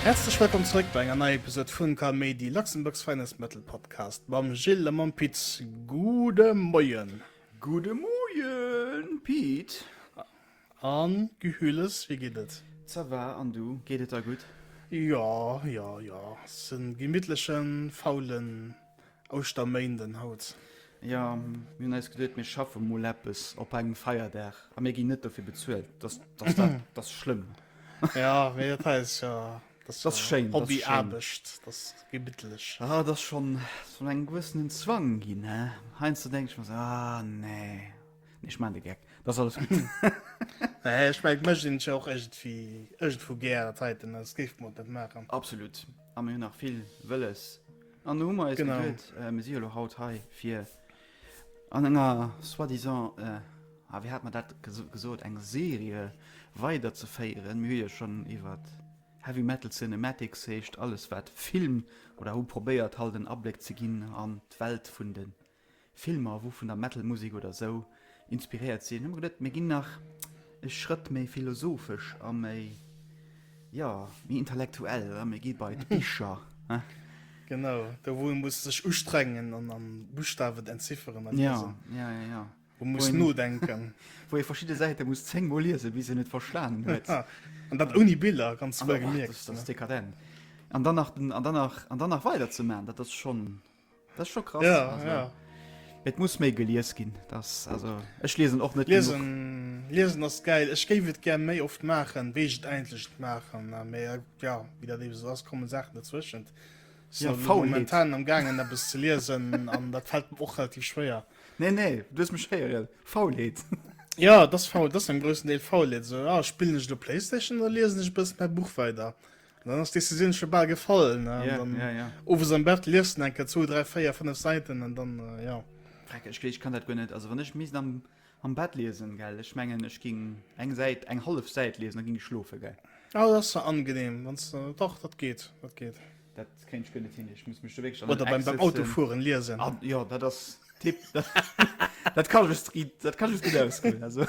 Häerzlech wëllkomm zeréck bei enger neier Episode vun Ka Méidi, Luxembourg's Finest Metal Podcast mam Gilles a mam Pit. Gudde Moien! Gudde Moien Pit! An Gehülles, wéi geet et? Ça va, an du, geet et der gutt? Jo, jo, jo, se en gemittlechen, faulen Ouschterméinden haut. Jo, mir hunn eis geduet, mir schaffe mol eppes op engem Feierdag, a mir ginn net dofir bezuelt, dat ass, dat ass schlëmm. Jo, mee dat hei ass jo, dat ass jo Hobbyaarbecht, dat ass gemittlech. Ah, dat ass schonn, dat ass schonn engem gewëssenen Zwang ginn, he? Heiansdo denk ech mer esou, ah nee. Nee, ech maan de Gag. Dat ass alles gutt. Nee, ech mengen, d'Mëscht sinn ech och ëgentwéi, ëgentwou gär. Dat heiten, dat géife mer och net maachen. Absolut. A mir hunn nach vill Wëlles. An do hu mer eis geduet. Genau. Mir si jo elo haut hei, fir an enger soi-disant, ah, wéi hate mer dat gesot, eng Serie weiderzeféieren. Mir hu jo schonn iwwer Heavy Metal Cinematics, heescht alles, wat Film oder hu probéiert, halt en Abléck ze ginn an d'Welt vun de Filmer wou vun der Metalmusek oder sou inspiréiert sinn, hu mer geduet mir ginn nach e Schrëtt méi philosophesch a méi, jo, méi intellektuell, oder? Mir gi bei d'Bicher, he? Genau, do wou ee muss sech ustrengen an a Buschtawen et entzifferen a liesen. Ja, ja, ja, ja. Wou ee muss nodenken. Wou ee verschidde Säite muss zéngmol liesen, bis een et verstanen huet. An dat ouni Biller, ganz wouergemierkt. Dat ass dekadent. An dann nach, an dann nach, an dann nach weiderzemaachen, dat ass schonn. Das schon krass ja, also, ja. Et muss méi gelies ginn das also Ech lesen och net lesen lesen ass geil Ech géif et ger méi oft machen wéi et eintlecht machen na mé ja wie dat eben ass kommen Sachen dazwischen ja, faul momentan am gangen der bis ze lesen an dat fällt och relativ schwéier nee nee du mich heieren faulheet ja das faul das am größten Deel faul so ja, spielen ich der Playstation oder lesen ich bis per Buch weiter Dann ass d'Decisioun scho bal gefall. Ja, ja, ja. Owes am Bett lies en eng Kéier zwou, dräi, véier, fënnef Säiten an dann, ja. Vreck, ech, ech kann dat guer net. Also wann ech misst am, am Bett liesen, gell, ech mengen, ech géing eng Säit, eng hallef Säit liesen, da géing ech schlofen, gell. Ah, dat ass jo angenehm, wann s de, dach, dat geet, dat geet. Dat kéint ech guer net hin, ech muss mech do wierklech an en Eck setzen. Oder beim Autofueren liesen. Ah, jo, dat ass tip, dat kann ech, dat kann ech gutt ausgoen, also.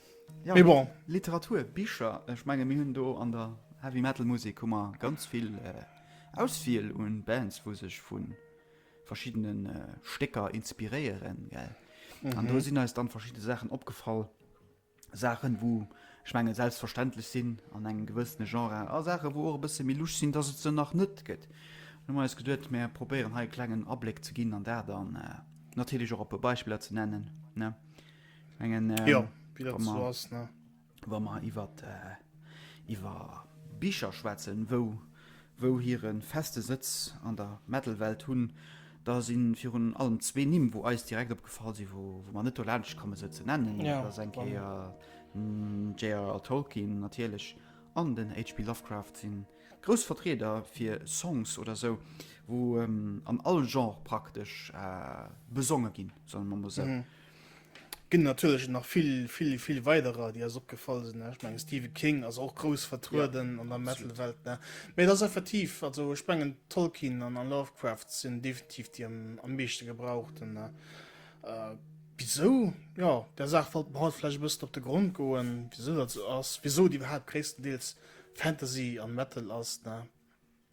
Ja, Mais bon. Literatur, Bicher, ech menge mir hunn do an der Heavy Metal Musek hu mer ganz vill äh, Auswiel un Bands, wou sech vun verschiddenen äh, Stécker inspiréieren, gell. Mhm. An do mhm. sinn eis dann verschiddene Sachen opgefall, Sachen, wou ech menge selbstverständlech sinn an engem gewëssene Genre a Sachen, wou och e bësse méi luch sinn, dass et se nach net gëtt. Nu eis geduet mé probéieren hei klengen Abléck ze ginn an dat dann äh, natierlech och op e Beispieler ze nennen. Ne? Mengen, ähm, ja, wie dat so ass, ne? Wa mer iwwer äh, iwwer Bicher schwätzen, wou wou hire feste Sëtz an der Metalwelt hunn, da sinn virun allem zwee Nimm, wou eis direkt opgefall sinn, wou wou mer net do laanscht komme se ze nennen. Ja, da seng Kéier mm, J.R.R. Tolkien natierlech an den HP. Lovecraft sinn grouss Vertrieder fir Songs oder sou, wou ähm, an all Genre praktesch äh, besonge ginn, soll man mo se. Mhm. Ginn natierlech nach vill, vill, vill weiderer, déi eis opgefall sinn. Ech mengen, Stephen King ass och grouss vertrueden yeah, an der Metal-Welt. Mee et ass effektiv, also ech mengen, Tolkien an Lovecraft sinn definitiv déi am, am meeschte gebrauchten. Äh, wisou? Ja, der Saach wollt mer haut vläicht e bëssen op de Grond goen, wisou dat esou ass, wisou et iwwerhaapt gréisstendeels Fantasy an Metal ass. Ne?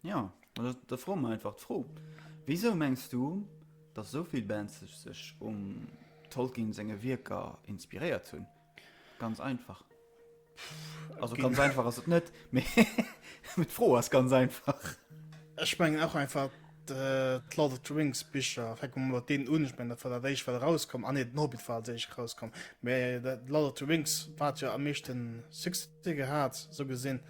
Jo, ma da froe mer einfach d'Fro, Wisou mengs du, datt esou vill Bands sech um Tolkien senge Wierker inspiréiert hunn? Ganz einfach. Also ganz einfach ass et net, mee d'Fro ass ganz einfach. Ech mengen och einfach d'Lord of the Rings Bicher. Fänke mer mat deenen un. Ech mengen, dat war dat éischt, wat erauskoum. Ah nee, den Hobbit war als éischt erauskomm. Mee d'Lord of the Rings, wat jo am meeschte Succès gehat, esou gesinn.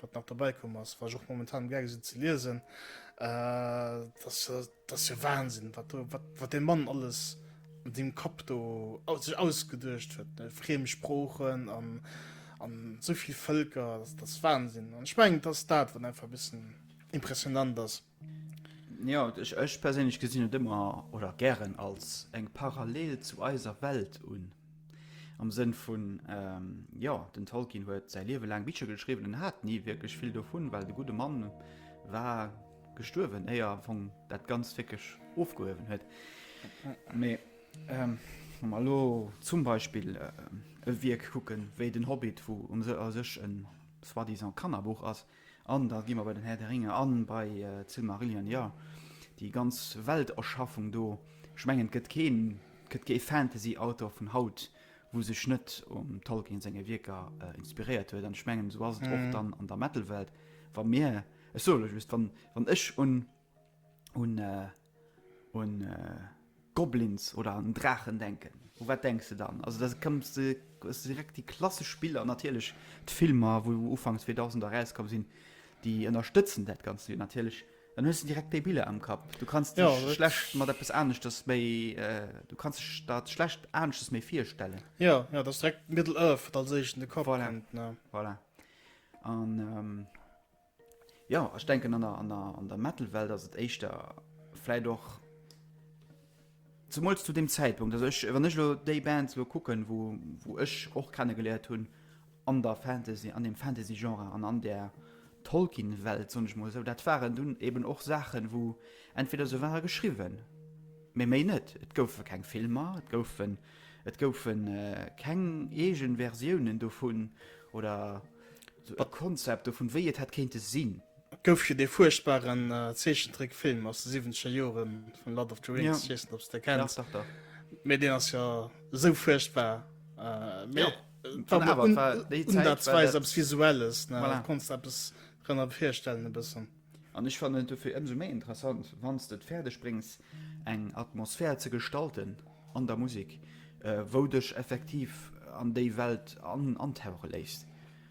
Wat nach dobäi komm ass, wat ech och momentan am Gaange sinn ze liesen, dat ass jo Wahnsinn, wat dee Mann alles an deem Kapp do sech ausgeduecht huet, friem Sproochen an esou vill Vëlker, dat ass Wahnsinn. An ech mengen, et ass dat, wat einfach e bëssen impressionnant ass. Jo, ech perséinlech gesinn et ëmmer oder gären als eng Parallel zu eiser Welt un. Am Sënn vun, jo, den Tolkien huet säi Liewe laang Bicher geschriwwen an hat ni wierklech vill dovun, well de gudde Mann war gestuerwen, éier am Fong dat Ganzt wierklech ofgehuewen huet. Mee wa mer elo zum Beispill e Wierk kucken, wéi den Hobbit, wou u sech e soi-disant Kannerbuch ass, An da gi mer bei den Här de Ringer a bei d'Silmarillion. Jo, déi ganz Welterschaffung do, ech mengen, et gëtt keen, et gëtt kee Fantasyautor vun haut, wou sech net um Tolkien senge Wierker inspiréiert huet. An ech mengen, esou ass et och dann an der Metal-Welt. Wa mir, ech soe lech just, wann ech un, un, Un Goblins oder an Draachen denken. U wat denks de dann? Also dat kommt direkt déi klassesch Spiller, natierlech d'Filmer wou ufanks 2000 erauskomm sinn, déi ënnerstëtzen dat Ganzt jo natierlech. Dann hues de direkt déi Biller am Kapp. Du kanns dech ja, schlecht mat eppes aneschters méi äh, du kanns dech dat schlecht aneschters méi virstellen. Ja, ja, dat ass direkt Middle Earth, wat als éischt an de Kapp voilà. kommt. Ne? Voilà. An ähm, Jo, ech denken an der, an der, an der Metal-Welt ass et éischter vläit och, zemools zu deem Zäitpunkt, also ech, wann ech elo déi Bands elo kucken, wou, wou ech och kenne geléiert hunn an der Fantasy, an dem Fantasy-Genre an an där Tolkien-Welt, soen ech emol esou, dat waren dunn eben och Saachen, wou entweder se ware geschriwwen, mee méi net, et goufe keng Filmer, et goufen, et goufe keng eege Versiounen dovun oder. Sou e Konzept dovun, wéi et hätt kéinte sinn. Et gouf jo dee fuerchtbaren Zeechentrickfilm aus de siwwenzger Jore vun Lord of the Rings, ja. Weess net, ob s de kenns. Dach, dach, dach. Mee deen ass jo esou fuerchtbar. Äh, mee ja. Wann awer, un, war déi Zäit. Unsatzweis eppes Visuelles, ne? Voilà. Konntest eppes drënner virstellen, e bëssen. An ech fannen et dofir ëmsou méi interessant, wann s de et fäerdeg bréngs, eng Atmosphär ze gestalten an der Musek, wou dech effektiv an déi Welt antauche léisst.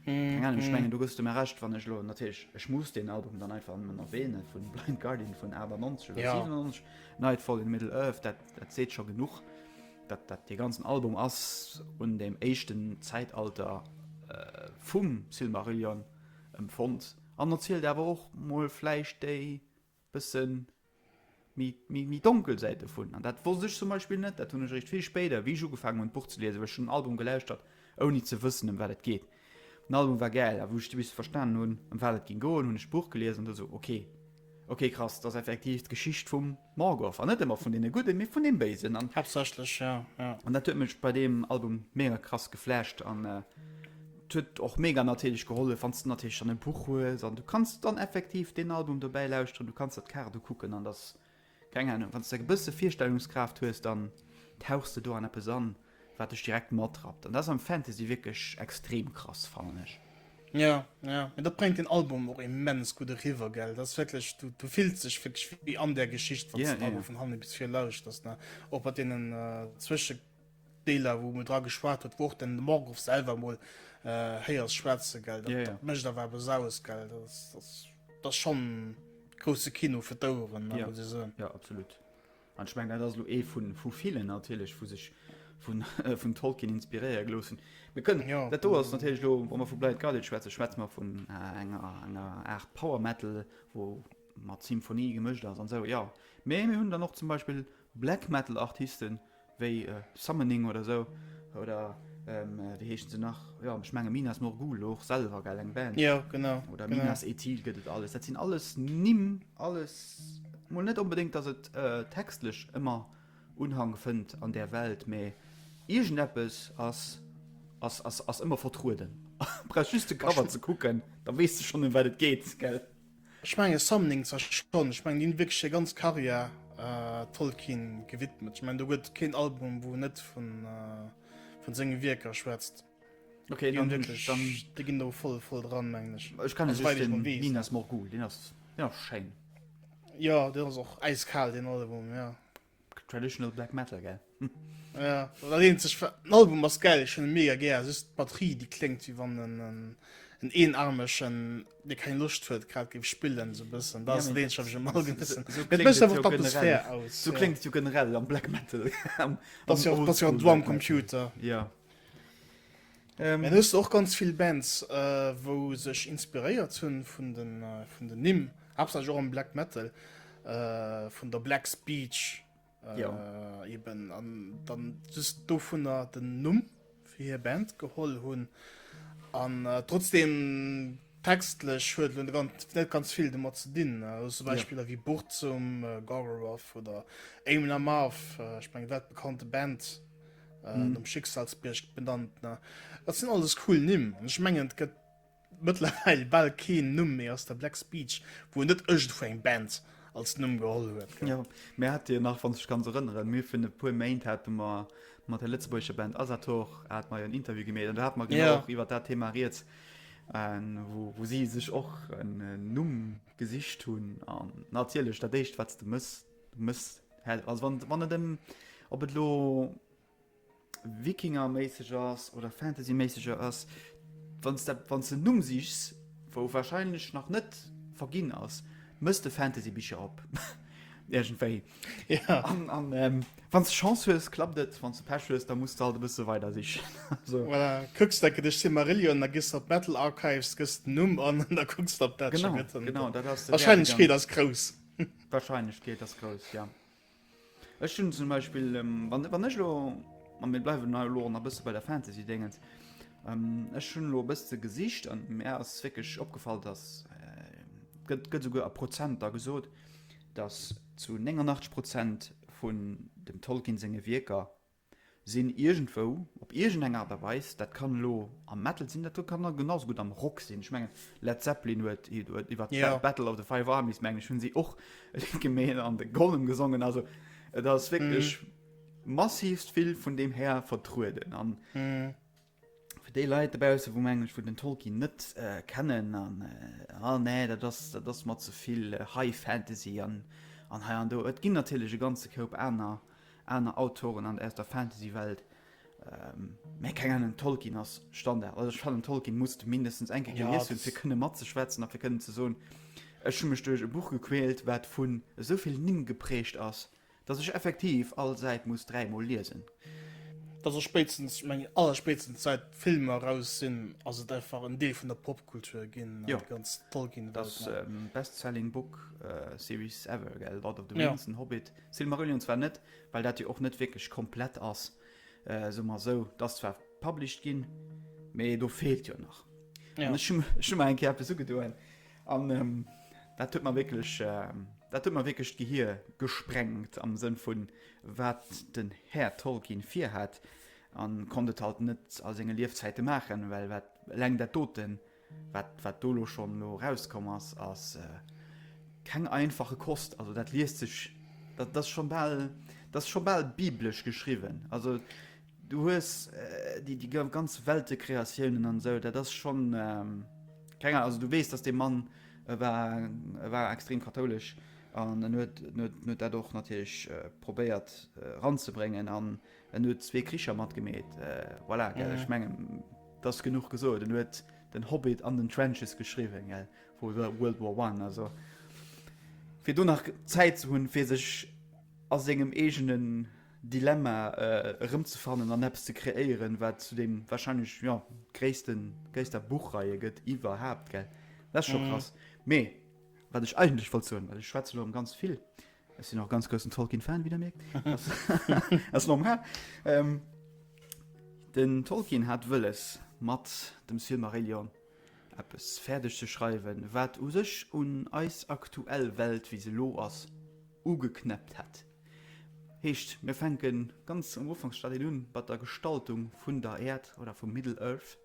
Keng Ahnung, ech mengen, do gëss de mer Recht, wann ech elo, natierlech, ech muss deen Album dann einfach nëmmen erwähnen, vun Blind Guardian vun 98 oder 97, Nightfall in Middle-earth, dat, dat seet scho genuch, dat, dat dee ganzen Album ass un deem éischten Zäitalter vum Silmarillion empfonnt. An erzielt awer och mol vläicht déi bësse méi donkel Säit dovun. An dat wosst ech zum Beispill net, dat hunn ech eréischt vill spéider, wéi ech ugefaangen hunn, d'Buch ze liesen, well ech hunn den Album gelauschtert, ouni ze wëssen, ëm wat et geet. Den Album war gäil, a wou ech bis verstanen hunn, ëm wat et géing goen, hunn ech d'Buch gelies an du esou, ok, ok, krass, dat ass effektiv d'Geschicht vum. Morgoth, an net emmer vun dene gudden, mee vun dem béisen, an Haaptsächlech, ja, ja. An dat huet mech bei deem Album mega krass geflasht, an et huet och mega natierlech gehollef, wann s de natierlech dann e Buch hues, an du kanns dann effektiv deen Album dobäi lauschteren, du kanns der d'Kaart ukucken, an dass, keng Ahnung, wann s de e bësse Virstellungskraaft hues, dann tauchs de do an eppes an. wat dech direkt matrappt an dat ass am Fantasy wierklech extrem krass fannen ech. Jo, jo, mee dat bréngt den Album och immens gutt eriwwer, gell. Dat ass wierklech, du, du fills dech wierklech wéi an där Geschicht, wann yeah, du yeah. vun hanne bis vir lauschters, ne? Och bei deenen äh, Zwëschedeeler, wou mir dra geschwat huet, wo och den Morgoth selwer mol äh, héiers schwätze, gell. Dat, yeah, yeah. dat mécht awer awer saus, gell. Das, das, das schon grousse Kino fir d'Oueren, ne, yeah. muss ich soen. Ja, absolut. An ech mengen, dat ass elo ee vu villen natierlech, wou sech vun Tolkien inspiréiere gelooss hunn. Mir kënnen, dat do ass natierlech elo, wa mer vu Blind Guardian schwätzen, schwätze mer vun enger Aart Power Metal, wou mat Symphonie gemëscht ass an esou, jo. Mee mir hunn dann och zum Beispill Black Metal Artiste wéi Summoning oder esou, oder wéi heeschen se nach, jo, ech menge Minas Morgul och selwer, eng Band, oder Minas Ethil gëtt et alles. Dat sinn alles Nimm. Alles mol net onbedéngt, datt et textlech ëmmer Unhang fënnt an där Welt, mä iergendeppes ass ëmmer vertrueden. Brauchs just de Cover ze kucken, da weess de schonn ëm wat et geet, gell? Ech menge Summoning zwar schonn, ech mengen déi hunn wierklech hir ganz Karriär Tolkien gewidmet. Ech mengen do gëtt keen Album wou net vun senge Wierker schwätzt. Okay, dann hun ech dann de gin do voll voll dran mengen ech. Ech kann just den Minas Morgul den ass ja schein. Ja den ass och äiskal den Album ja. Traditional Black Metal gell. Ja dat eenzeg wat den Album ass geil ech hunn e mega gär just d'Batterie déi kléngt wéi wann en en en Eenaarmechen dee keng Loscht huet grad géif spillen esou bëssen dat ass dat eenzeg wat mech am Album e bëssen et mécht einfach d'Atmosphär aus. Sou kléngt et jo generell am Black Metal. Dat ass jo dat ass jo en Drum Computer. Ja. Ähm, en hues och ganz vill Bands äh, wou sech inspiréiert hunn vun den äh, vun den Nimm Hauptsache Jo am Black Metal äh, vun der Black Speech äh, ja. eben an dann just do vun der den Numm fir hir Band geholl hunn an äh, trotzdem textlech huet hun ganz net ganz vill de mat ze dinn äh, zum Beispieler ja. wie Buch zum äh, Gorgoroth oder Aim Lamar äh, ich mein, dat bekannte Band. äh, mm. um Schicksalsbierg benannt ne dat sinn alles cool nimm an ech mengen gëtt mëttlerweil bal keen Numm méi aus der Black Speech wou net ëcht vu eng Band als Numm geholl huet ja. Mä hat Dir nach wann sech ganz erënneren mir vun e puer Méint hat mar mat der Lëtzebuerger Band Asator hat mei en Interview gemet an da hat man genau ja. iwwer dat Thema riet wo, wo si sech och en äh, Numm gesicht hunn an natierlech dat déicht wat de mësst Du mëss Help. Also wann, wann et ëm, ob et lo Wikinger-méisseg ass oder Fantasy-méisseger ass, wann s de, wann s de en Numm sichs, wou warscheinlech nach net verginn ass, mëss de Fantasy-Bicher op. Iergendwéi. Ja. An, an ähm, wann s de Chance hues, klappt et, wann s de Pech hues, da muss de halt e bësse weider sichen. Also. Voilà, kucks de, gëtt ech Silmarillion, da gëss de op Metal Archives, gëss den Numm an, an da kucks de, ob dat scho Genau, gëtt. An genau, dat ass de Wäertegang. D'Warscheinlechkeet ass grouss. D'Wahrscheinlechkeet ass grouss, jo. Ech hunn zum Beispill, wann, wann ech elo, a mir bleiwen hei elo och nach e bësse bei der Fantasy-Déngens, ech hunn elo e bësse gesicht an mär ass wierklech opgefall, datt, gëtt, gëtt esouguer a Prozenter gesot, datt zu 89 Prozent vun dem Tolkien senge Wierker sinn iergendwou, op iergendeng Aart a Weis, dat kann elo am Metal sinn, dat kann awer genauso gutt am Rock sinn, ech mengen Led Zeppelin huet iwwer d'Ba Battle of the Five Armies, mengen ech, hunn si och e Lidd gemeet an de Gollum gesongen, also et ass wierklech massivst vill vun deem Här vertrueden an Fir déi Leit dobaussen, wou mengen, wou den Tolkien net kennen an ah nee, dat ass, dat ass mer ze vill High Fantasy an an hei an do. Et ginn natierlech e ganze Koup aner aner Autoren an aus der Fantasy-Welt, mä keng Ahnung, Tolkien ass Standard. Also ech fannen, Tolkien muss de mindestens eng Kéier Ja, gelies hunn, fir dat. kënne matzeschwätzen a fir kënnen ze soen, ech hu mech duerch e Buch gequält, wat vun esou vill Nimm geprägt ass. Dass ech effektiv all Säit muss dräi mol liesen. Dass och spéitstens, ech mengen allerspéitstens säit d'Filmer raus sinn, ass et einfach en Deel vun der Popkultur ginn, an déi ganz Tolkien-Welt. Jo, dass Bestselling Book Series ever, gell, Lord of the Rings, den Hobbit, Silmarillion zwar net, well dat jo och net wierklech komplett ass, soe mer esou, dat ass zwar published ginn, mee do feelt jo nach. An ech hu mer eng Kéier eppes ugedoen, An dat huet mer wierklech, dat huet mer wierklech d'Gehir gesprengt am Sënn vun wat den Här Tolkien virhat an konnt et halt net a senge Liefzäite maachen, well wat eleng dat doten, wat, wat do elo schonn elo erauskomm ass, ass keng einfache Kost. Also dat liest sech, dat ass scho bal, dat ass scho bal biblesch geschriwwen. Also. Du hues déi déi ganz Weltecreatiounen an esou, dat ass schonn keng Ahnung, also du weess, dass dee Mann e war, e war extrem kathoulesch an en huet en huet en huet dat och natierlech probéiert eranzebréngen an en huet zwee Kricher matgemeet. Voilà, gell, ech menge et ass genuch gesot. En huet den Hobbit an den Trenches geschriwwen, gell, vu World War One, also fir do nach Zäit ze hunn, fir sech a sengem eegenen. Dilemma erëmzefannen an eppes ze kreéieren, wat zu deem warscheinlech, jo, gréissten, gréisster Buchreihe gëtt iwwerhaapt, gell? Dat ass scho krass. Mee wat ech eigentlech wollt soen, well ech schwätze lo ëm ganz vill, ech sinn och ganz groussen Tolkien-Fan, wéi Der mierkt, ass normal, den Tolkien hat wëlles mat dem Silmarillion eppes fäerdeg ze schreiwen, wat u sech un eis aktuell Welt, wéi se elo ass, ugeknäppt hätt. Heescht, mir fänke ganz am Ufanksstadium un, bei der Gestaltung vun der Äerd oder vum Middle-earth,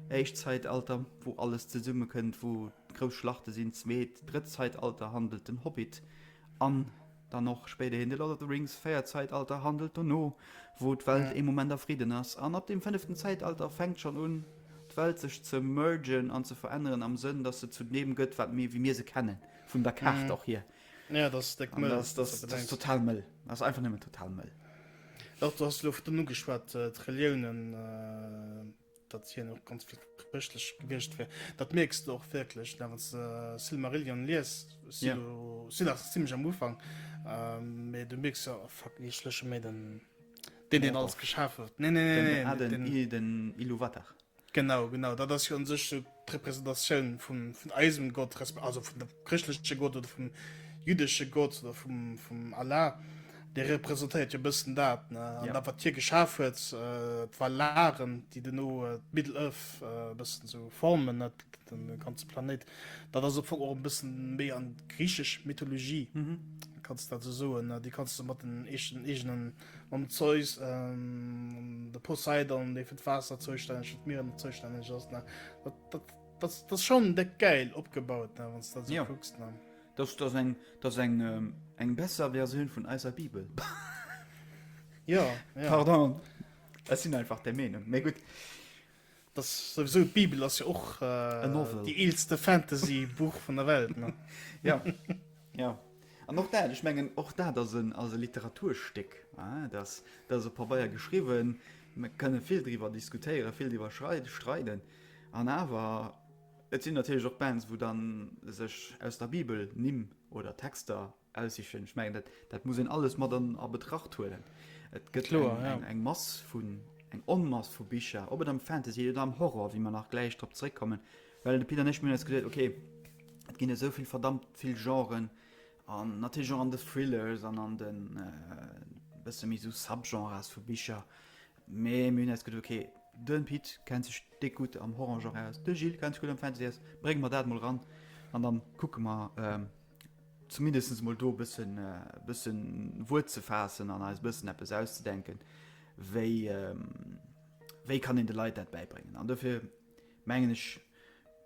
éischt Zäitalter, wou alles zesummekënnt, wou grouss Schlachte sinn, zweet, drëtt Zäitalter handelt den Hobbit an dann och spéiderhin de Lord of the Rings, véiert Zäitalter handelt dono, wou d'Welt ee Moment a Fridden ass, an ab dem fënneften Zäitalter fänkt schonn un, d'Welt sech ze mergen an ze veränneren am Sënn, dass se zu deem gëtt, wat mir, wéi mir se kennen, vun der Kaart och hier. Ja, dat ass déck mëll. Dat ass total mëll. Dat ass einfach nëmmen total mëll. Dach, du has lo vun nu geschwat, d'Reliounen, datt hien och ganz vill chrëschtlech gewiescht wier. Dat mierks du och wierklech, da wann s de Silmarillion lies. Ja. Si nach zimmlech am Ufank, mee du mierks jo, oh fuck, ech léche méi den, deen, deen alles geschaf huet. Nee, nee, nee, nee, den. Aden, den Iluvatar. Genau, genau, dat ass jo un sech sou d'Representatioun vum, vun eisem Gott, resp. Also vun dem chrëschtleche Gott oder vum jüddesche Gott oder vum, vum Allah. Dee representéiert jo e bëssen dat, ne? An Ja. dat, wat hie geschaf huet, äh, d'Valaren, déi duerno äh, d'Middle-Earth äh, e bëssen sou formen, ne? Den de ganze Planéit. Dat ass am Fong och e bëssen méi an d'griichesch Mythologie, Mhm. kanns dat sou soen, ne? Déi kanns du mat den eeschen, eegenen Mam Zeus, de Poseidon, dee fir d'Waasser zoustänneg, fir d'Mieren zoustänneg ass. Dat ass schonn déck gäil opgebaut, wann s dat esou kucks. Dat ass eng, dat ass eng, eng besser Versioun vun eiser Bibel. Jo, pardon, ech sinn einfach där Meenung. Mee gutt. Dass souwisou d'Bibel ass jo och déi eelste Fantasy Buch vun der Welt ne. Jo jo an och dat ech mengen och dat ass en ass e Literaturstéck hein dass dat ass op Pabeier geschriwwen mer kënne vill driwwer diskutéieren vill driwwer schrei streiden an awer et sinn natierlech och Bands wou dann sech aus der Bibel Nimm oder Texter Aussichten. Ech mengen, dat, dat muss een alles mat an a Betracht huelen. Et gëtt Kloer, eng, ja. eng, eng Mass vun eng Onmass vu Bicher, ob et am Fantasy oder am Horror, wéi mer nach gläich drop zréckkommen, well de Pit an ech mir hunn eis geduet, okay, et ginn esou vill verdammt vill Genren an natierlech och an de Thrillers an an den äh, bësse méi sou Subgenres vu Bicher, mee mir hunn eis geduet, okay, den Pit kennt sech déck gutt am Horror-Genre aus, de Gilles kennt sech gutt am Fantasy aus, brénge mer dat mol ran an dann kucke mer, ähm, zumindest mol do e bëssen e bësse Wuert ze faassen an eis bëssen eppes auszedenken, wéi wéi kann een de Leit dat bäibréngen. An dofir mengen ech,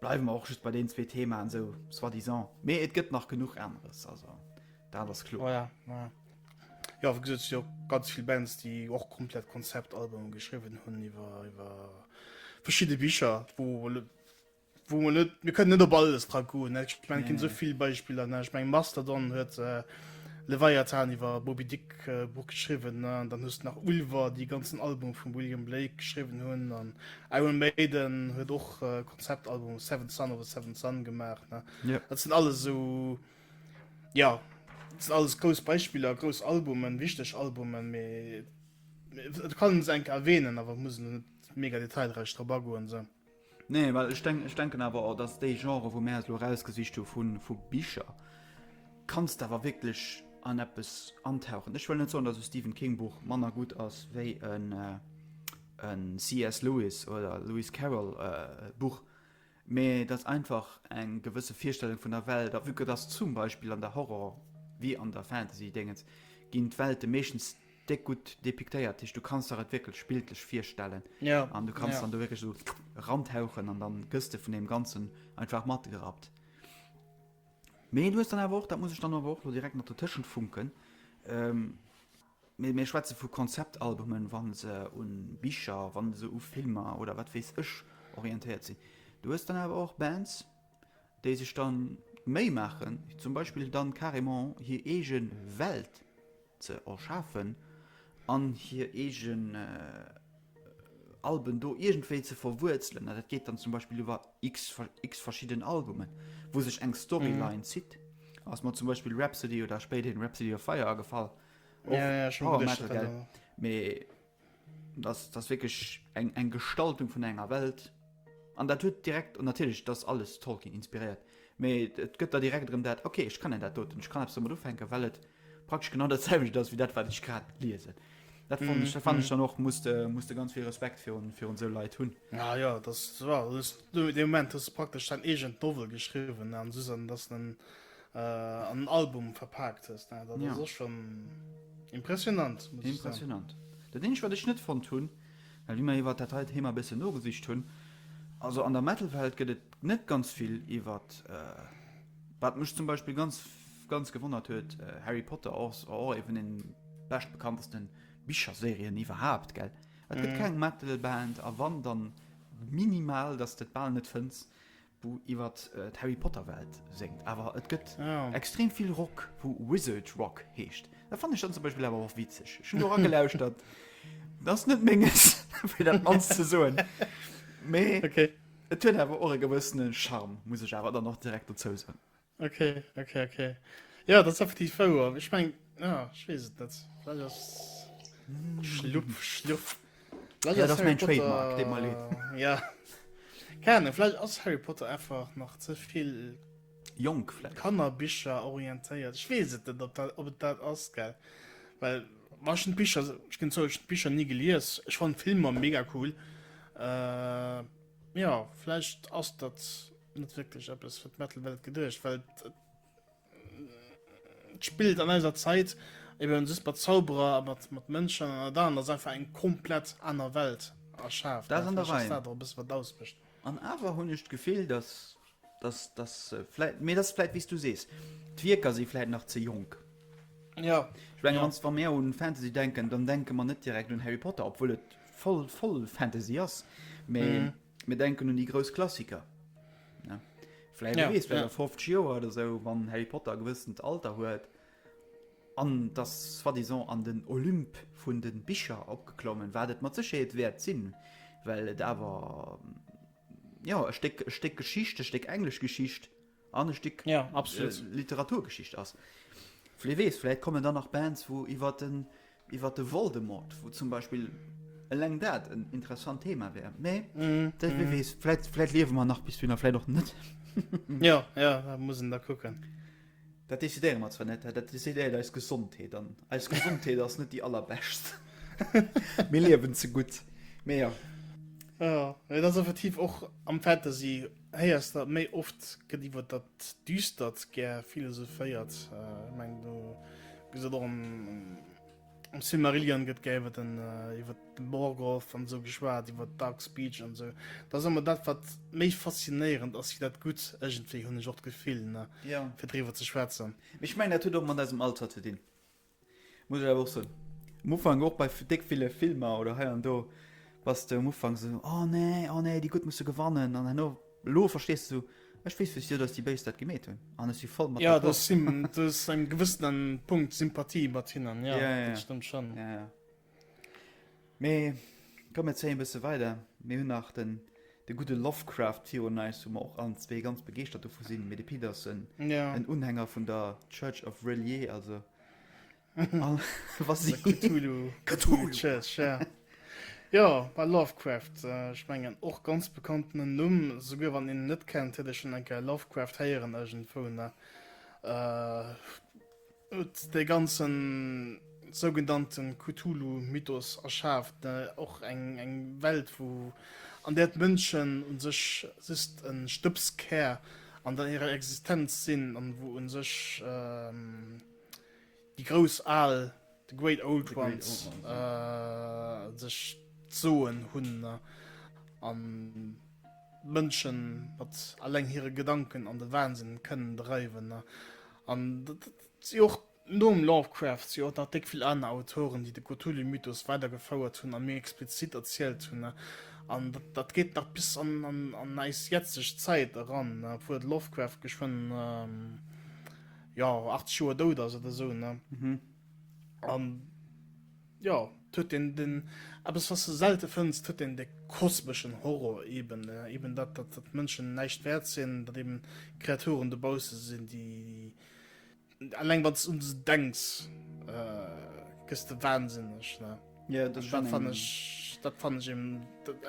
bleiwe mer och just bei deenen zwee Themaen esou soi-disant. Mee et gëtt nach genuch aneres, also dat ass kloer. Ja, ja. Jo, wéi gesot, et si jo ganz vill Bands, déi och komplett Konzeptalbume geschriwwen hunn iwwer iwwer verschidde Bicher, wou Wou mer net, mir kënnen net op alles dra goen. Ech meng, nee, ginn nee. souvill Beispiller. Ne? Ech meng Mastodon huet äh, Leviathan iwwer Bobby Dick äh, Buch geschriwwen, ne? dann hues nach Ulver, déi ganzen Album vum William Blake geschriwwen hunn, an Iron Maiden huet och äh, Konzeptalbum Seven Sun oder Seven Sun gemaach. Ne? Ja. Dat sinn alles so ja, dat sinn alles grouss Beispiller, grouss Albumen, wichteg Albumen, mé et kann se enke erwähnen, awer muss net mega detailreich drop agoen. So. Nee, well ech denk, ech denken awer och, dass déi Genre, wou mär eis elo erausgesicht hu vu vu Bicher, kanns de awer wierklech an eppes antauchen. Ech wëll net soen, dass e Stephen King Buch manner gutt ass wéi en e CS Lewis oder e Lewis Carroll Buch, mee et ass einfach eng gewësse Virstellung vun der Welt. A vu que dass zum Beispill an der Horror wéi an der Fantasy-Déngens ginn d'Welte meeschtens Déck gutt depiktéiert, heescht du kanns der et wierklech bildlech virstellen an du kanns dann do wierklech esou erantauchen an dann gëss de vun deem Ganzen einfach matgerappt. Mee du hues dann awer och, dat muss ech dann awer och elo direkt nach dotëschent funken, mee mir schwätze vu Konzeptalbumen, wa se u Bicher, wa se u Filmer oder wat weess ech orientéiert sinn, du hues dann awer och Bands, déi sech dann d'Méi maachen, zum Beispill dann carrément hir eege Welt ze erschafen an hir eegen Alben do iergendwéi ze verwuerzelen. Dat geet dann zum Beispill iwwer x verschidden Albumen, wou sech eng Storyline zitt. Ass mer zum Beispill Rhapsody oder spéiderhin Rhapsody of Fire agefall. Och Power Metal, gell? Mee. Dass wierklech eng Gestaltung vun enger Welt an dat huet direkt, an natierlech et ass alles Tolkien inspiréiert, mee et gëtt der direkt erëm dat, ok ech kennen dat doten, ech kann eppes domat ufänken, well et praktesch genau dat selwecht ass wéi dat wat ech grad liesen. Dat fannen ech, dat fannen ech dann och, muss de muss de ganz vill Respekt virun virun esou Leit hunn. Ja jo, et ass, jo, hues du, dee Moment hues du praktesch däin eegent Novel geschriwwen an soss, an et ass en an en Album verpaakt hues, dat ass och schon impressionant. Impressionant. Dat eenzegt wat ech net fonnt hunn, well wéi mer iwwert dat heite Thema e bëssen nogesicht hunn, also an der Metal-Welt gëtt et net ganz vill iwwert, wat mech zum Beispill ganz ganz gewonnert huet, Harry Potter ass och eeben een bescht bekanntesten Bicherserien iwwerhaapt, gell? Et gëtt keng Metal-Band, a wann, dann minimal, datt s de et bal net fënns, wou iwwer d'Harry Potter Welt séngt, awer et gëtt extrem vill Rock wou Wizard Rock heescht, dat fannen ech dann zum Beispill awer och witzeg, ech hunn do eragelauschtert, dat ass net menges fir dat mannst ze soen, mee et huet awer och e gewëssene Charme, muss ech awer dann och direkt dozou soen. Ok, ok, ok. Ja, dat ass effektiv wouer. Ech meng ja, ech weess et net. Vläicht ass Schlupp, Schlupp. Vläicht Ja, ass dat ass Harry mein Potter- Trademark, deet mer leed. Ja. Keine Ahnung, vläicht ass Harry Potter einfach nach ze vill Jonk vläicht. Kannerbicher orientéiert. Ech weess et net, ob dat, ob et dat ass, gell. Well ma ech hunn d'Bicher, ech ginn zou, ech hunn d'Bicher ni gelies. Ech fannen d'Filmer mega cool. Äh, ja, vläicht ass dat. net wierklech eppes fir d'Metal-Welt geduecht, well et spillt an eiser Zäit, eben just mat Zauberer a mat mat Mënschen an dat anert ass einfach eng komplett aner Welt erschaaft. Dat an der Rei. Dat ass dat och e bësse wat ausmécht. An awer hunn ech d'Gefill, datt, datt, datt se vläit, mee dat ass vläit wéi s du sees, d'Wierker si vläit nach ze jonk. Ja. Ech menge wann s, wa mir un Fantasy denken, dann denke mer net direkt un Harry Potter, obwuel et voll voll Fantasy ass, mee. Mir denken un déi grouss Klassiker. Vläit ja, wees, ja. 50 Joer oder sou wann Harry Potter gewëssent Alter huet an dass soi disant an den Olymp vun de Bicher opgeklommen, wat et mat Sécherheet wäert sinn, well et awer ja e Stéck, e Stéck Geschicht, e Stéck englesch Geschicht an e Stéck ja, absolut. Äh, Literaturgeschicht ass. Vläit wees, vläit kommen dann nach Bands, wou iwwer den Iwwer de Voldemort, wou zum Beispill eleng dat en interessant Thema wär. Mee dat wie weess, vläit, vläit liewe mer nach bis dunn, a vläit och net. Jo, jo, dat muss een da kucken. Dat decidéiere mer zwar net, dat decidéiert eis Gesondheet, an eis Gesondheet ass net déi allerbescht. Mir liewen ze gutt. Mee jo. Jo, et ass effektiv och am Fantasy. Héiers dat méi oft gëtt iwwert dat Düstert gär philosophéiert. Ech mengen do gëss et och am am Silmarillion gëtt gär iwwert den iwwert de Morgoth an esou geschwat, iwwert Dark Speech an esou. Dat ass ëmmer dat wat méi faszinéierend ass wéi dat Gutt, ëgentwéi hunn ech och d'Gefill, ne, fir driwwer ze schwätzen. Mee ech mengen dat huet och mat eisem Alter ze dinn. Muss ech awer och soen. Um Ufank och bei déck ville Filmer oder hei an do bass de um Ufank esou, oh nee, oh nee, déi Gutt musse gewannen an herno, elo verstees de esou, ech weess wéisst jo, datt déi Béis dat gemeet hunn an ech si voll mat Ja, du d'accord. hues engem gewëssenen Punkt Sympathie mat hinnen, ja, Ja, ja, dat ja. stëmmt schonn. Ja, ja. Mee komm mir zéien bësse weider, mir hunn nach den de gudde Lovecraft virun eis, wou mer och allen zwee ganz begeeschtert dovu sinn, mee de Pit ass en Ja. en Unhänger vun der Church of R'lyeh, also all was si Cthulhu, Cthulhu Church, ja. Jo, ma Lovecraft, ech mengen och ganz bekanntenen Numm, souguer wann een en net kennt, huet ee schonn eng Kéier Lovecraft héieren iergendwou, ne? huet dee ganzen sougenannten Cthulhu Mythos erschaaft, och eng Welt wou an där d'Mënschen un sech just en Stëbskär an der hirer Existenz sinn an wou un sech déi grouss Al, the Great Old Ones, sech d'Soen hunn an d'Mënschen mat alleng hire Gedanken an de Wahnsinn kënnen dreiwen. An dat si och nom Lovecraft si och nach déck vill aner Autoren, déi de Cthulhu-Mythos weider gefouert hunn a méi explizit erzielt hunn. An dat geet nach bis an eis jetzeg Zäit eran, obwuel de Lovecraft geschwënn, jo, 80 Joer dout ass oder esou. Jo, et huet een den, eppes wat s de selte fënns, et huet een de kosmeschen Horror eben, eben dat, dat datt d'Mënschen näischt wäert sinn, datt eben Kreaturen dobausse sinn, déi, eleng wann s de un se denks, gëss de wahnsinneg, ne. Jo, dat ass schon eng. Dat fann ech eben,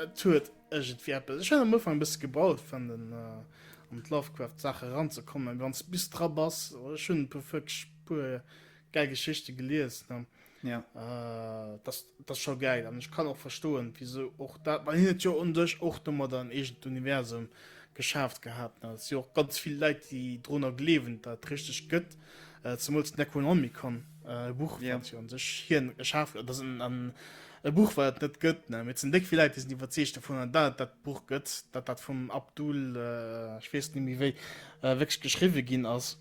et huet iergendwéi eppes. Ech hat am Ufank e bësse gebraucht fir an den, an d'Lovecraft-Saache eranzekommen, mee wann s bis dra bass, ech hunn e puer, wierklech e puer gäil Geschichte gelies, ne. Ja. Äh, das, das ist schon geil. Und ich kann auch verstehen, wieso auch da, weil hin ja und durch auch nochmal dann irgendein Universum geschafft gehabt. Ne? Es sind ja auch ganz viele Leute, die drunter glauben, dass es richtig gibt. Äh, zumal es Necronomicon, äh, Buch, ja. was ja an sich hier geschafft wird. Das ist ein, ein, ein Buch, was es nicht gibt. Ne? Mit sind dick viele Leute, die sind überzeugt davon, dass das Buch gibt, dass das vom Abdul, äh, ich weiß nicht mehr wie, äh, wirklich geschrieben ging ist.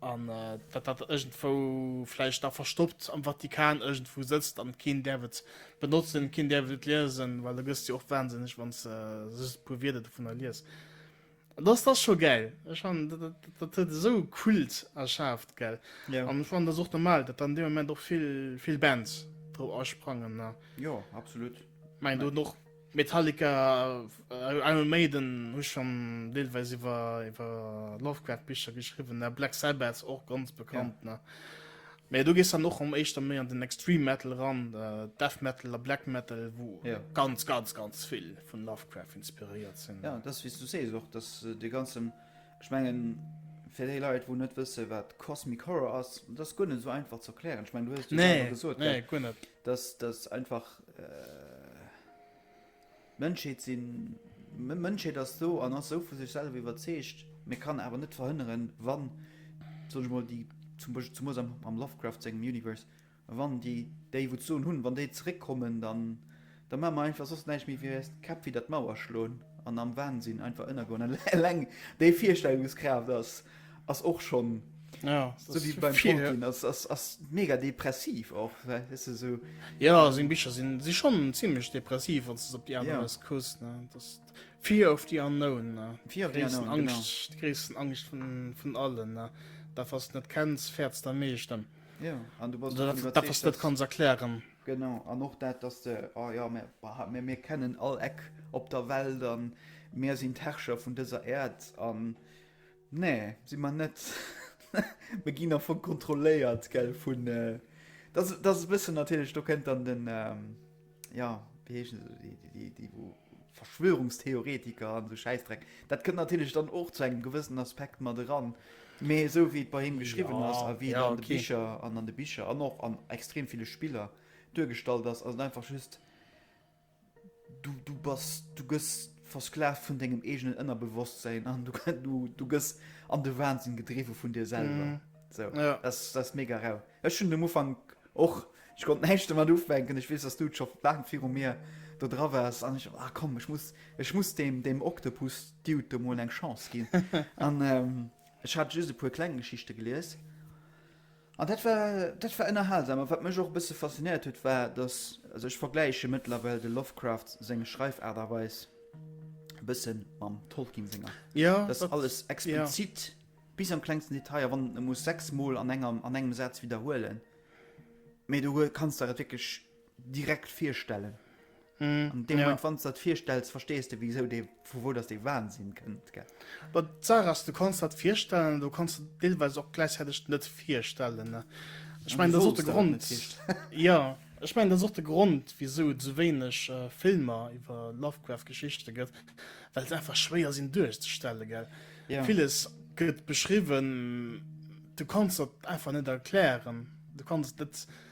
An datt dat iergendwou vläicht da verstoppt am Vatikan iergendwou sëtzt an keen däerf et benotzen, keen däerf et liesen, well da gëss de jo och wahnsinneg, wann s de just e puer Wierder dovunner lies. An dass dat scho gäil. Ech fannen, dat huet esou e Kult erschaaft, gell. An ech fannen, dat ass och normal, datt dann dee Moment och vill Bands drop asprangen. Jo, absolut. Mä ech mengen, do hunn och. Metallica, Iron Maiden hu schonn deelweis iwwer iwwer Lovecraft-Bicher geschriwwen, ne? Black Sabbath och ganz bekannt, ne? Mä do gees dann och erëm éischter méi an den Extreme Metal eran, Death Metal a Black Metal, wou ganz, ganz, ganz vill vun Lovecraft inspiréiert sinn. Jo, dat ass, wéi s du sees, och dass dee ganzen, ech mengen, fir déi Leit, wou net wësse wat Cosmic Horror ass, dat ass guer net esou einfach ze erklären. Ech mengen, du hues et jo selwer gesot, gell? Nee, nee, guer net. Dass dass einfach d'Mënschheet sinn. D'Mënschheet ass do an ass esou vu sech selwer iwwerzeegt, mä kann awer net verhënneren, wann, soen ech mol, déi, zum Beispill zemoos am Lovecraft sengem Universe, wann déi déi wou d'Soen hunn, wann déi zeréckkommen, dann da maache mer einfach soss näischt méi wéi eis d'Käpp widder d'Mauer schloen an am Wahnsinn einfach ënnergoen. Eleng déi Virstellungskraaft ass. ass och schon ja, so wie beim viel, Tolkien, ja. ass, ass, ass mega depressiv och weißt du, so. Ja sinn Bicher sinn si schon ziemlich depressiv wann op die ja. kuss Fi of die unknown Fi Angst Christen Angst vun vun allen da fast net kenns fährtz der meescht dann. Ja, an du was dat kann erklären. Genau an och dat dass de oh, ja, mir, bah, mir, mir kennen all Eck op der Welt an Meer sinn d'Herrscher vun dëser Erd an Nee, si mer net. Mer ginn am Fong kontrolléiert, gell, vun, dass, dass e bëssen natierlech, do kënnt dann den, jo, wéi heeschen se, déi, déi, déi, déi wou Verschwörungstheoretiker an esou Schäissdreck, dat kënnt natierlech dann och zu engem gewëssenen Aspekt mat eran. Mee esou wéi et bei him geschriwwen ass a wéi et an de Bicher, an an de Bicher an och an extrem ville Spiller duergestallt ass, ass et einfach just, Du bass, du gëss versklavt vun dengem eegenen Ënnerbewosstsäin an du gëss an de Wahnsinn gedriwwe vun dir selwer. Sou, dat ass mega rau. Ech hunn um Ufank och, ech konnt näischt domat ufänken. Ech weess, dass du scho laang viru mir do dra waars an ech sou, ah komm, ech muss, ech muss deem, deem Oktopus-Dude do mol eng Chance ginn. An ech hat just e puer kleng Geschichte gelies. An dat war, dat war ënnerhalsam. A wat mech och e bësse faszinéiert huet, war, datt, also ech vergläiche mëttlerwell de Lovecraft seng Schreifaart a Weis e bësse mam Tolkien senger. Ja, Datt dat, alles ja. explizit, bis an d'klengsten Detail, a wann en et muss sechsmol an enger, an engem Saz widderhuelen, mee do hue, kanns der et wierklech direkt virstellen. An deem Moment, wann s de dat virstells, verstees de wisou dee, vu wou dass dee Wahnsinn kënnt, gell? Bon, d'Saach ass, du kanns dat virstellen, an du kanns der dat deelweis och gläichzäiteg net virstellen. Ech mengen, dat ass och de Grond, jo, ech mengen, dat ass och de Grond, wisou et esou wéineg Filmer iwwer Lovecraft-Geschichte gëtt, well se einfach schwéier sinn duerchzestellen, gell? Villes gëtt beschriwwen, du kanns der et einfach net erklären, du kanns et net.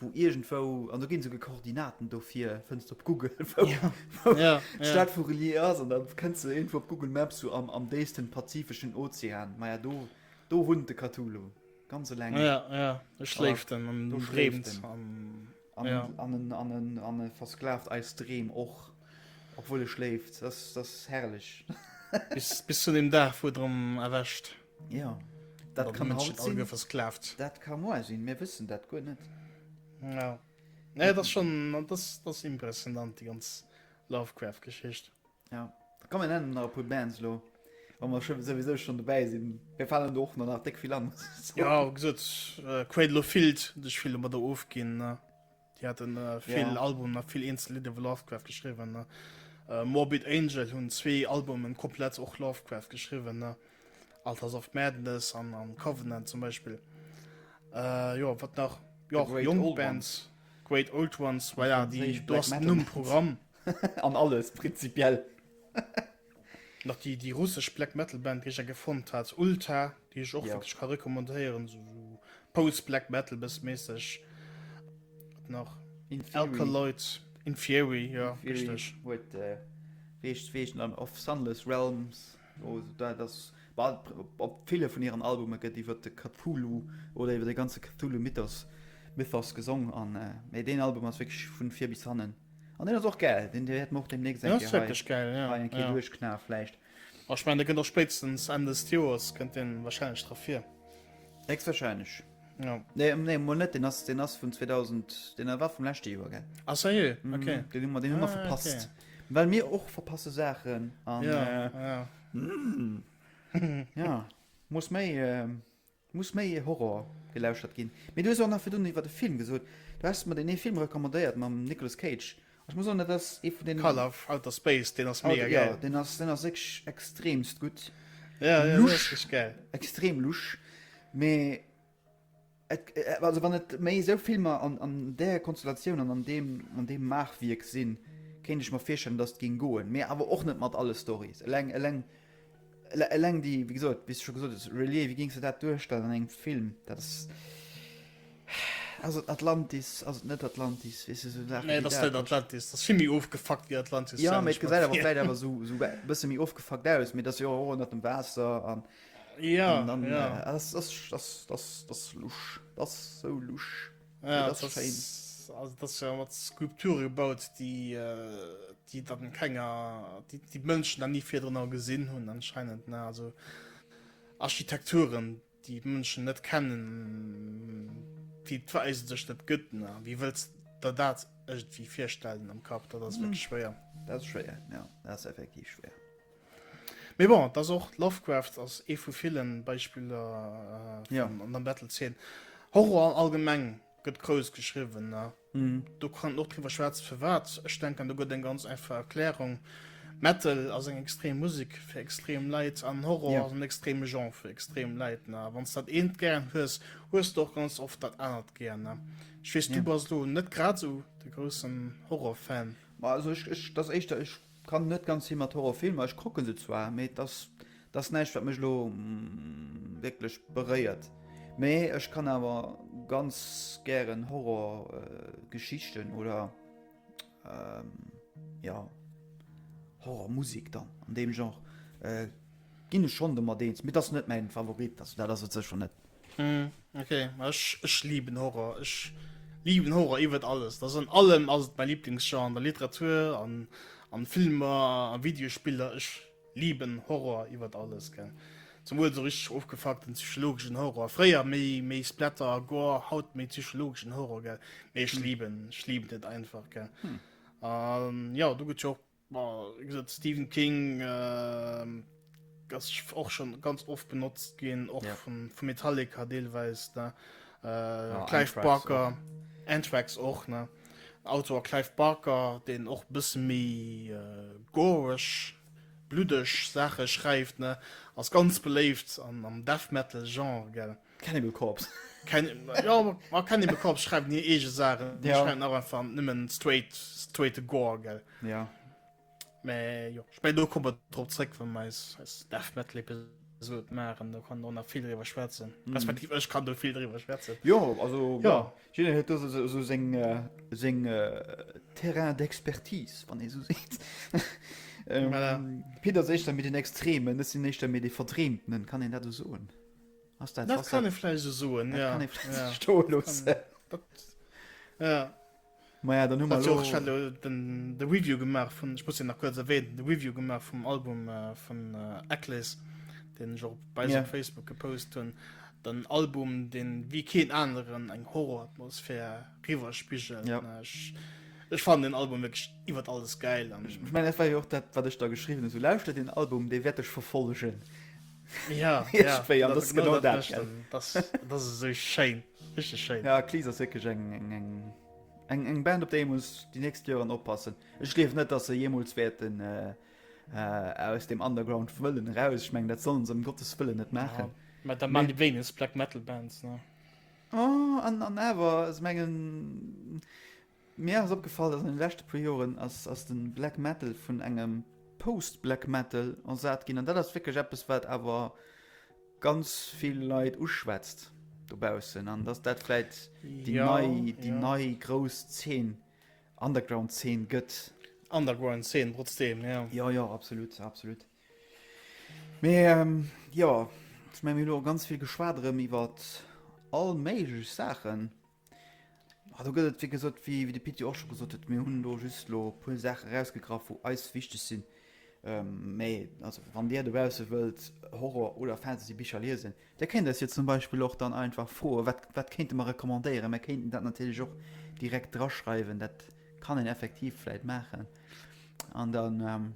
wou iergendwou, an do ginn esouguer Koordinaten dofir, fënns du op Google, wou d'Stad vu R'lyeh ass, an da kënns du iergendwou op Google Maps esou am déifsten pazifeschen Ozean. Maja, do, do wunnt de Cthulhu, ganz eleng. Ja, ja, do schléift en an do dreemt en. An e versklavt eis Dreem och, obwuel e schléift. Dat ass herrlech. Bis zu deem Dag, wou et erëm erwächt. Jo, dat kann haut sinn, dat ka moar sinn, mir wëssen dat guer net. Jo, nee, dat ass schonn, dat ass, dat ass impressionant, déi ganz Lovecraft-Geschicht. Jo, da kommen dann nach e puer Bands elo, wa mer scho souwisou schonn dobäi sinn, mir falen do och nach nach déck vill an. Jo, wéi gesot, Cradle of Filth, dech vill domadder ofginn. Déi haten vill Albumen a vill eenzel Lidder vu Lovecraft geschriwwen. Morbid Angel hunn zwee Albumen komplett och Lovecraft geschriwwen, Altars of Madness an Covenant zum Beispill. Jo wat nach jo jonk Bands, Great Old Ones, voilà, déi do ass den Numm Programm. An alles prinzipiell. nach déi déi russesch Black Metal Band déi ech enke fonnt hat Ulta déi ech och wierklech ka recommandéieren sou Post Black Metal bëss méisseg nach Alkaloid Inferi jo richteg huet richt wéi eech an of Sunless Realms o dat ass bal op ville vun hiren Albume gëtt iwwer de Cthulhu oder iwwer de ganze Cthulhu Mythos Mythos gesong an mee deen Album ass wierklech vun vir bis hannen An deen ass och gäil, deen wäert mer och demnächst eng Kéier hei, hei eng Kéier duerchknae vläicht. A ech mengen, dee kënnt och spéitstens Enn dëst Joers kënnt deen wahrscheinlech dra vir. Héchstwahrscheinlech. Nee, nee, mol net, deen ass, deen ass vun 2000, deen war vum leschte Joer, gell? Ah sérieux? Ok. Deen hu mer, deen hu mer verpasst. Well mir och verpasse Saachen an, ja, muss méi. Et muss méi ee Horror gelauschtert ginn. Mee du hues och nach virdun iwwert e Film gesot. Du has mer deen ee Film recommandéiert mam Nicolas Cage. Ech muss soen, dat ass ee vun deenen. Call of Outer Space, deen ass mega gäil. Jo, deen ass deen ass wierklech extremst gutt. Jo, jo, deen ass richteg gäil. Lusch, extrem lusch. Mee et, also wann et méi esou Filmer an an där Konstellatioun an an deem an deem Maachwierk sinn, kéint ech mer virstellen, datt et géing goen. Mee awer och net mat alle Storys. Eleng eleng Eleng déi, wéi gesot, wéi s de scho gesot hues, Relier, wéi géings de dat duerstellen an engem Film? Dat ass. Ass et Atlantis, ass et net Atlantis? Weess de, esou Saachen. Nee, et ass net Atlantis. Et ass vill méi ofgefuckt wéi Atlantis. Jo, mee et gesäit awer vläicht awer esou, esou e bësse méi ofgefuckt aus, mee et ass jo och ënnert dem Waasser an. Jo, jo. Et ass, ass, ass, ass lusch. Et ass esou lusch. Ja, das das schein. ist, also das ist ja mat Skulpture gebaut, die, äh, die dann keiner, die, die Mënschen dann nie vier drin auch gesehen hun anscheinend, ne? Also Architekturen, die Mënschen net kennen, die weisen sich net gëtt, ne? Wie willst da dat irgendwie vorstellen am Kap, da das wirklich schwer. Das ist schwer, ja, das ist effektiv schwer. Mee bon, et ass och, Lovecraft ass ee vu ville Beispiller an der Battlezeen. Horror allgemeng gëtt grouss geschriwwen. Do kann een och driwwer schwätzen, firwat. Ech denken, do gëtt eng ganz einfach Erklärung, Metal ass eng extrem Musek fir extrem Leit an Horror ass en extreme Genre fir extrem Leit. A wann s de dat eent gär hues, hues de och ganz oft dat anert gär. Ech weess, du bass elo net grad esou de groussen Horror-Fan. Ma also, ech, dat ass éischter, ech. Kann net ganz hi mat Horrorfilmer, ech kucken se zwar, mee dat ass näischt wat mech elo wierklech beréiert. Mee ech kann awer ganz gären Horrorgeschichten oder jo Horrormusek dann an deem Genre ginn ech schonn domat eens, mee dat ass net mäin Favorit, also dat ass et sécher net. Hm, okay. Ech, ech lieben Horror. Ech lieben Horror iwwert alles. Das an allem ass et mein Lieblingsgenre an der Literatur, an, an Filmer, an Videospiller. Ech lieben Horror iwwert alles, gell. Zum Wuel so richteg ofgefuckten psychologeschen Horror. Fréier méi, méi Splatter a Gore, haut méi psychologeschen Horror, gell. Mee ech lieben, ech lieben et einfach, gell. Hm. An, jo, do gëtt jo och Stephen King ass och schon ganz oft benotzt ginn och yeah. vu vu Metallica deelweis ne äh, ja, Clive Barker Antrax och ne Autor Clive Barker den och bis méi äh, goresch bludeg Sache schreift ne ass ganz beléift an am Death metal Genre gell. Cannibal Corps. Ma Cannibal Corps schreiwen hir eege Saachen. Déi schreiwen awer einfach nëmmen straight, straighte Gore, gell? Ja. Mä jo, ich mein, do kommen wir drop zréck, wann wir eis, eis Death Metal Episode maachen, do kann do nach vill driwwer schwätzen. Respektiv ech kann do vill driwwer schwätzen. Jo, also Ja. jiddereen huet do so- so so seng äh, seng äh, Terrain d'expertise, wann ee so seet. Ähm, Voilà. Peter ass éischter méi den Extremen, ech sinn éischter méi dee Verdreemtenen, kann een dat esou soen? Ass dat Dat kann e vläicht esou soen, ja. Kann e vläicht esou sto loossen. Ja. Maja, dann hu mer lo... Ech lo den de Review gemaach vun, ech muss nach kuerz erwähnen, de Review gemaach vum Album äh, vun äh, Eccles, den ech och bei yeah. Facebook gepost hunn. Den Album, den wie keen aneren eng Horroratmosphär riwerspigel. Ja. Ech, ech fan den Album wirklich iwwer alles geil. An ich mein, war jo och dat wat ech da geschrieben so lauschte den Album, dee werdech verfollegen. Ja, Hirschféi, an dat ass genau dat, gell? Das, das ist so schéin, richtig schéin. Ja, Cleese ass wirklich eng, eng, eng, eng, eng Band, op déi muss die nächst Joren oppassen. Ech gleef net, dass se jemools wäerten äh, äh, aus dem Underground wëllen raus. Ich meng, dat sollen se um Gottes Wëllen net machen. Ja. Ma da man die wenigst Black Metal Bands, ne? Oh, an, an awer, ich mengen, Mir ass opgefall, dass an den leschte puer Joren ass ass den Black Metal vun engem Post Black Metal ersat ginn an dat ass wierklech eppes wat awer ganz vill Leit uschwätzt dobaussen an dass dat vläit déi ja, nei déi ja. nei grouss Zeen Underground Zeen gëtt. Underground Zeen trotzdem ja. Ja ja absolut absolut. Mee ähm, ja, ich mein, mir lo ganz vill geschwat rëm iwwer all méiglech Saachen. Ah, do gëtt et, wéi gesot, wéi de Pit jo och scho gesot huet, mir hunn do just elo e puer Saache rausgegraff, wou eis wichteg sinn. Mee also wann Dir dobausse wëllt Horror oder Fantasybicher liesen, da kéint eis jo zum Beispill och dann einfach froen, wat, wat kéinte mer recommandéieren. Mir kéinten dat natierlech och direkt draschreiwen, dat kann een effektiv vläit maachen. An dann,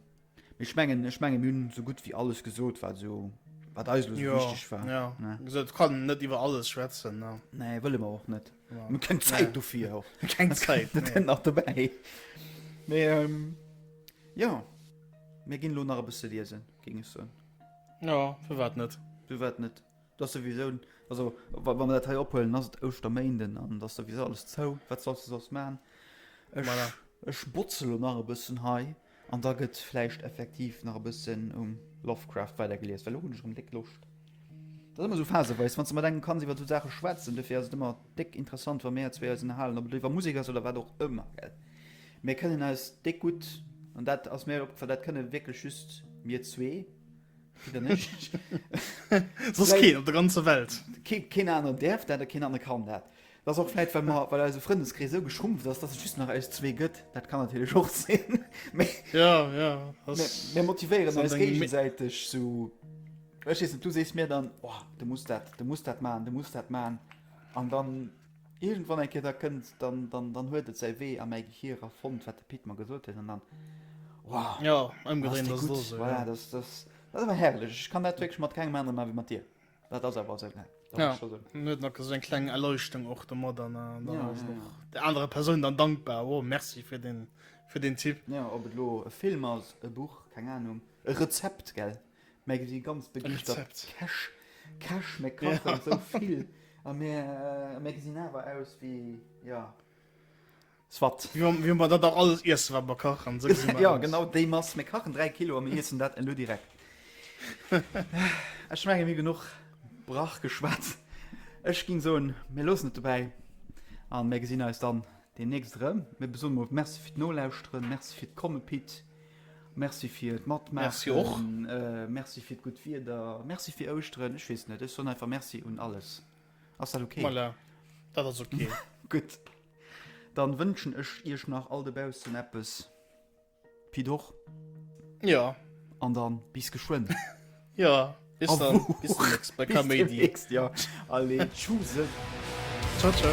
Ech mengen ech mengen mir hunn esou gutt wéi alles gesot wat esou wat eis elo esou Jo, wichteg war. jo. Ne? Wéi gesot, kann net iwwer alles schwätzen, ne. Nee, wëlle mer och net. Mir hunn keng Zäit dofir och. Keng Zäit, Dat nee. kënnt nach dobäi. Mee jo, mir ginn elo nach e bësse liesen, géing ech soen. Jo, firwat net. Firwat net. Et ass souwisou, also wa wa mer dat hei ophuelen, ass et Ouschterméinden an et ass souwisou alles zou. Wat solls de soss man? Ech, Voilà. ech botze elo nach e bëssen hei. An da gëtt vläicht effektiv nach e bëssen um Lovecraft weidergelies, well elo hunn ech erëm déck Loscht. Dat ass ëmmer esou phaseweis, wann s de mat engem kanns iwwer esou Saache schwätzen. Dofir ass et ëmmer déck interessant, wa mäer zwee eis ënnerhalen, ob et elo iwwer Musek ass oder wat och ëmmer. Gell? Mir kënnen eis déck gutt, an dat ass mir opgefall, dat kënne wierklech just mir zwee, Pit an ech. Soss keen op der ganzer Welt. Keen aner däerf dat a keen aner kann dat. Dat ass och vläit, well mer, well eise Frëndeskrees esou geschrumpft ass, dass et just nach eis zwee gëtt. Dat kann natierlech och sinn. Mee Ja, ja, ass, mir, mir motivéieren ass an eis dengem Mé géigesäiteg sou. Ech weess net, du sees mir dann, Oh, de muss dat, de muss dat maachen, de muss dat maachen. An dann iergendwann eng Kéier, da kënnt, dann, dann, dann huet et säi Wee a mäi Gehir a fonnt, wat de Pit mer gesot huet. An dann, Wow, Ja, dann ass ëmgedréint dee ass et gutt. och esou, Voilà, ja. dass, dass, dat ass awer herrlech. Ech kann dat wierklech mat kengem aneren maachen, wéi mat dir. Dat ass awer esou, ne? Dat muss ech scho soen. Huet nach esou eng kleng Erleuchtung och domat an dann ass en och der anerer Persoun dann dankbar, oh merci fir den, fir den Tipp. Jo, ob et elo e Film ass, e Buch, keng Anung, e Rezept, gell? Mä si si ganz begeeschtert Käch, Käch, mir kachen esou vill a mir, a mir gesinn awer aus wéi, jo. Soit. Mir hun mer dat dach alles iessen wat mer kachen, sou gesinn mer aus. Jo genau déi Mass, mir kachen 3 Kilo a mir iessen dat elo direkt. Ech mengen mir hu genuch Brach geschwat. Ech ging soen mir loossen et dobäi an mir gesinn eis dann demnächst erëm. Mir soen mol Merci fir d'Nolauschteren, Merci fir d'Komme Pit, Merci fir d'Matmaachen. Merci och. Merci fir d'gutt Wieder, Merci fir Ouschteren, ech weess net, ech soen einfach Merci un alles. Ass dat ok? Voilà, dat ass ok. Gutt. Dann wënschen ech iech nach all dobaussen eppes Pi d'Och. Ja. An dann bis geschwënn. Ja, bis dann. Bis deemnächst bei Kaméidi. Bis deemnächst, ja. Allez, tschuse. Ciao, ciao.